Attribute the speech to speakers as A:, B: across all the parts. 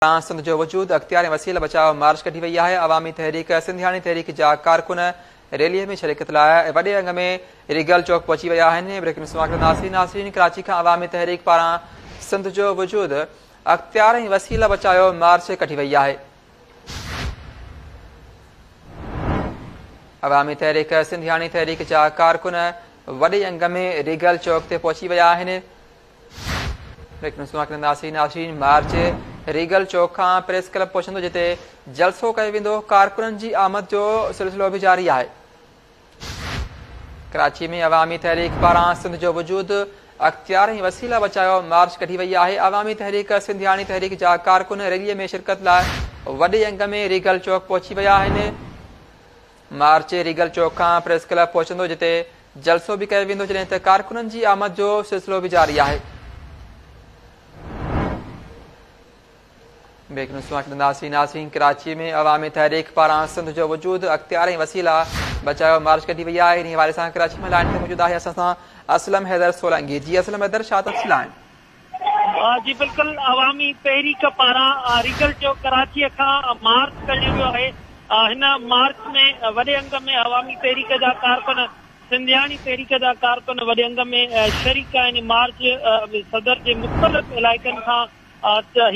A: تان سنڌ جو وجود، اختيار ۽ وسيل بچاء مارچ ڪڍي وئي آهي، عوامي تحريڪ سنڌياڻي تحريڪ جا ڪارڪن ريلي ۾ شرڪت لاء وڏي انگ ۾ ريگل چوڪ پهچي ويا آهن بريڪنگ سماڪر ناصرين ناصرين ڪراچي کان عوامي تحريڪ پاران سنڌ جو وجود، اختيار ۽ وسيل بچايو مارچ ڪڍي وئي آهي. عوامي تحريڪ سنڌياڻي تحريڪ جا ڪارڪن وڏي انگ ۾ ريگل چوڪ تي پهچي ويا آهن. ناشرين مارچ ريگل چوڪ کان پريس ڪلب پهچندو جتي جلسو ڪيو ويندو ڪارڪنن جي آمد جو سلسلو به جاري آهي ڪراچي ۾ عوامي تحريڪ پاران سنڌ جو وجود اختيار ۽ وسيلا بچايو مارچ ڪڍي وئي آهي عوامي تحريڪ سنڌياڻي تحريڪ جا ڪارڪن ريلي ۾ شرڪت لاء وڏي انگ ۾ ريگل چوڪ پهچي ويا آهن مارچ ريگل چوڪ کان پريس ڪلب پهچندو جتي جلسو به ڪيو ويندو جڏهن ته ڪارڪنن جي آمد جو سلسلو به جاري آهي. بريڪ نيوز سان ڇڏنداسين ناظرين ڪراچي ۾ عوامي تحريڪ پاران سنڌ جو وجود اختيار ۽ وسيلا بچايو مارچ ڪڍي وئي آهي انهي حوالي سان ڪراچي ۾ لائن تي موجود آهي اسان سان اسلم حيدر سولنگي جي اسلم حيدر شاهه تفصيل آهن جي بلڪل
B: عوامي تحريڪ پاران ريگل جو ڪراچي کان مارچ ڪڍيو ويو آهي هن مارچ ۾ وڏي انگ ۾ عوامي تحريڪ جا ڪارڪن سنڌياڻي تحريڪ جا ڪارڪن وڏي انگ ۾ شريڪ آهن مارچ صدر جي مختلف علائقن کان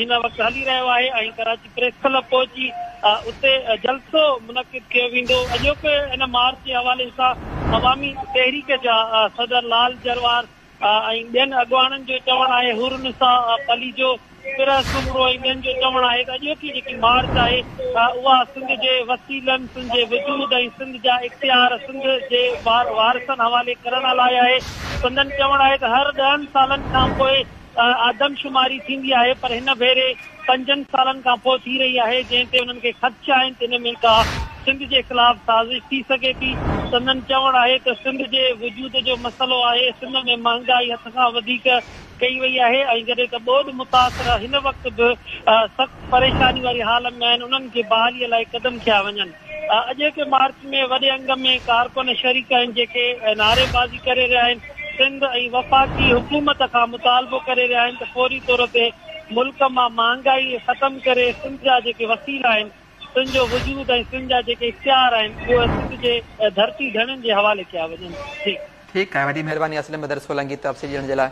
B: هن وقت هلي رهيو آهي ۽ ڪراچي پريس ڪلب پهچي اتي جلسو منعقد ڪيو ويندو اڄوڪي هن مارچ جي حوالي سان عوامي تحريڪ جا صدر لال جروار ۽ ٻين اڳواڻن جو چوڻ آهي حور النساء پليجو، پره سومرو ۽ ٻين جو چوڻ آهي ته اڄوڪي جيڪي مارچ آهي اها سنڌ جي وسيلن، سنڌ جي وجود ۽ سنڌ جا اختيار سنڌ جي وارثن حوالي ڪرڻ لاء آهي. سندن چوڻ آهي ته هر ڏهن سالن کانپوء آدمشماري ٿيندي آهي پر هن ڀيري. پنجن سالن کان پوء ٿي رهي آهي جنهن تي انهن کي خدشا آهن ته ان ۾ ڪا سنڌ جي خلاف سازش ٿي سگهي ٿي، سندن چوڻ آهي ته سنڌ جي وجود جو مسئلو آهي، سنڌ ۾ مهانگائي حد کان وڌيڪ ڪئي وئي آهي ۽ جڏهن ته ٻوڏ متاثر هن وقت به سخت پريشاني واري حال ۾ آهن انهن جي بحالي لاء قدم کنيا وڃن. اڄوڪي مارچ ۾ وڏي انگ ۾ ڪارڪن شريڪ آهن جيڪي نعري بازي ڪري رهيا آهن سنڌ ۽ وفاقي حڪومت کان مطالبو ڪري رهيا آهن ته فوري طور تي ملڪ مان مهانگائي ختم ڪري سنڌ جا جيڪي وسيلا آهن سنڌ جو وجود ۽ سنڌ جا جيڪي اختيار آهن اهي سنڌ جي ڌرتي ڌڻين جي حوالي
A: ڪيا وڃن ٺيڪ.
B: ٺيڪ
A: آهي وڏي
B: مهرباني
A: اسلم بدر
B: سولنگي
A: تفصيل ڏيڻ
B: جي لاء.